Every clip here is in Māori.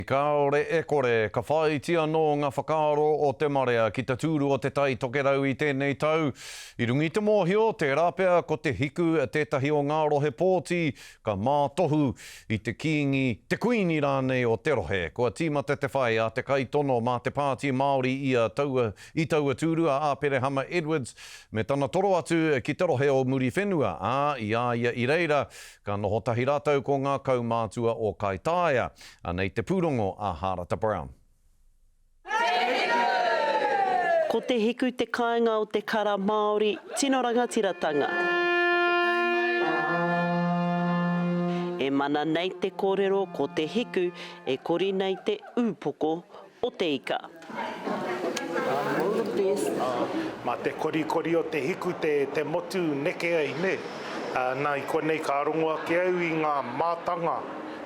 Kāore e kore, ka whāiti anō ngā whakaaro o te marea ki te tūru o Te Tai Tokerau i tēnei tau. I runga i te mōhio, tērā pea ko Te Hiku tētahi o ngā rohe pōti ka mātohu i te Kīngi, te Kuini rānei o te rohe. Kua tīmata te whai a te kaitono mā te Pāti Māori ia taua i taua tūru a Āperehama Edwards me tana toro atu ki te rohe o Muriwhenua, ā, i a ia i reira ka noho tahi rātou ko ngā kaumātua o Kaitaia. Anei te pūrongo a Hārata Brown. Ko Te Hiku te kāinga o te kara Māori tino rangatiratanga. E mana nei te kōrero ko Te Hiku e kori nei te ūpoko o te ika. Ma te korikori o te hiku te motu neke ai ne. Na i konei ka rongo ake au i nga matanga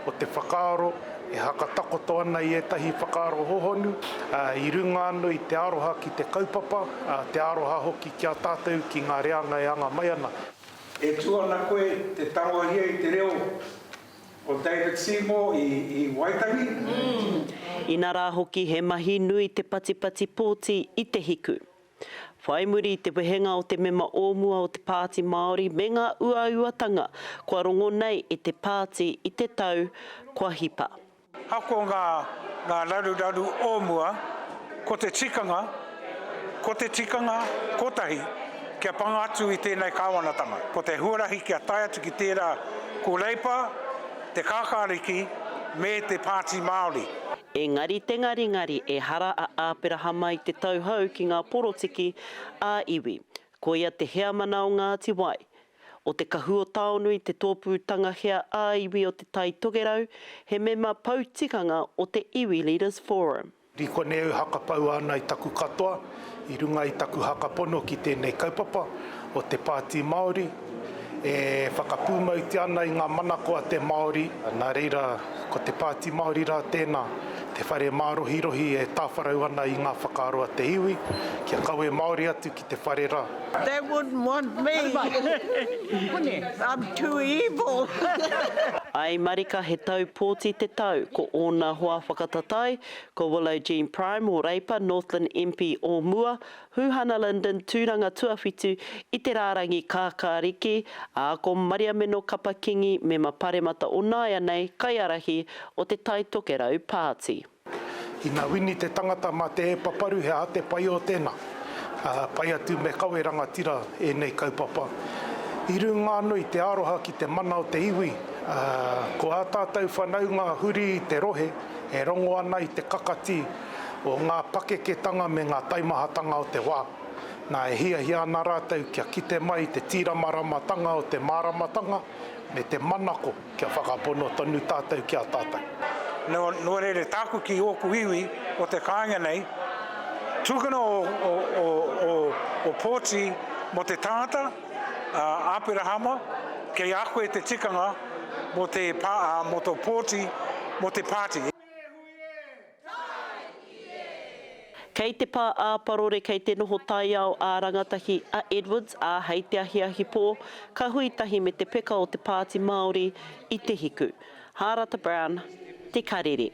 o te whakaaro e hakatakoto ana i etahi whakaaro hohonu i runga ano i te aroha ki te kaupapa, te aroha hoki ki a tatou ki nga reanga e anga mai ana. E tu ana koe te tangohia i te reo. Ko David Seymour i Waitangi. Ina rā hoki he mahi nui te patipati pōti i te hiku. Whai muri i te wehenga o te mema o mua o te Pāti Māori me ngā uauatanga kua rongo nei i te pāti i te tau kua hipa. Ako ngā ngā raruraru o mua, ko te tikanga, ko te tikanga kotahi kia panga atu i tēnei Kāwanatanga. Ko te huarahi kia tae atu ki tērā ko Reipa, te Kākāriki me te Pāti Māori. Engari te ngaringari ehara a Āperahama i te tauhou ki ngā porotiki ā-iwi. Koia te heamana o Ngāti Wai, O Te Kahuotaonui te tōpū tangahea ā-iwi o Te Tai Tokerau, he mema pou tikanga o te Iwi Leaders Forum. Ri konei au hakapau ana i taku katoa i runga i taku haka pono ki tēnei kaupapa o te Pāti Māori e whakapūmautia ana i ngā manako a te Māori, nā reira ko te Pāti Māori rā tēnā, te whare mārohirohi e tāwharau ana i ngā whakaaro a te iwi kia kawe māori atu te whare ra. They wouldn't want me. I'm too evil. I marika he tau pōti te tau, ko ōna hoa whakatatai, ko Willow Jean Prime o Reipa, Northland MP o mua, Huhana Linden, tūranga tuawhitu i te rārangi kākāriki, ā, ko Mariameno Kapa Kingi, mema paremata o nāianei, kaiarahi o te Taitokerau Pāti. Ina wini te tangata ma te e paparu he aha te pai o tena? Pai atu me kawe rangatira enei kaupapa. I runga ano i te aroha ki te mana o te iwi, ko a tatou whanaunga huri i te rohe e rongo ana i te kakati o nga pakeketanga me nga taimahatanga o te wa. Na e hiahia ana ratou kia kite mai i te tiramaramatanga o te maramatanga me te manako. Kia whakapono tonu tātou ki a tātou. Nō reira, tāku ki ōku iwi o te kāinga nei, tukuna ō pōti mō te tangata, a Aperahama, kei a koe te tikanga mō tō pōti mō te pāti. Kei te pā ā-parore kei te noho taiao ā-rangatahi a Edwards, ā, hei te ahiahi pō, ka hui tahi me te peka o te Pāti Māori i te hiku. Hārata Brown, Te Karere.